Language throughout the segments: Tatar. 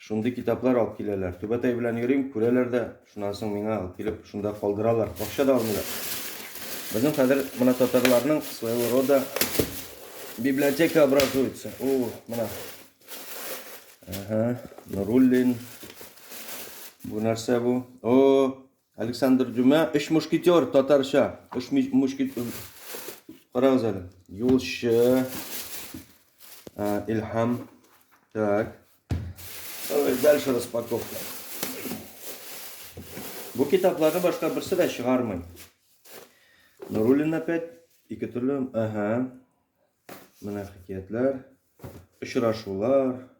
Шундый китаплар алып киләләр. Түбәтәй белән йөрим, күрәләр дә, шуннан соң миңа алып килеп, шунда калдыралар. Акча да алмыйлар. Безнең хәзер менә татарларның своего рода библиотека образуется. О, менә. Ага, Нуруллин. Бу нәрсә бу? О, Александр Дюма, Өч мушкетер, татарча. Өч мушкетер. Карагыз әле. Юлчы. Илһам. Так. Давай дальше распаковка. Бу китапларны башка берсе дә чыгармый. Нуруллин опять ике төрле. Ага. Менә хикәятләр, очрашулар.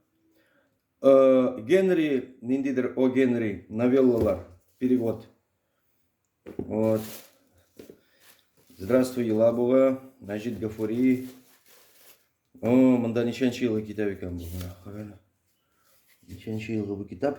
Э, Генри, ниндидер О Генри, новеллалар, перевод. Вот. Здравствуй, Елабуга, Мәҗит Гафури. О, монда ничәнче елгы китап икән бу? Ничәнче елгы бу китап?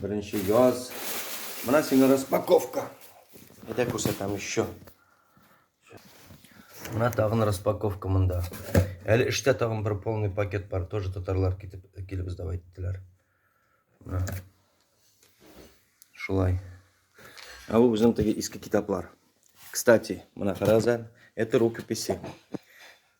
Беренче яз. Менә сиңа распаковка. Әйдә күрсәтәм еще. Менә тагын распаковка монда. Әле эштә тагын бер полный пакет бар. Тоже татарлар китеп килеп издав иттеләр. Менә. Шулай. А бу безнең теге иске китаплар. Кстати, менә карагыз Это рукописи.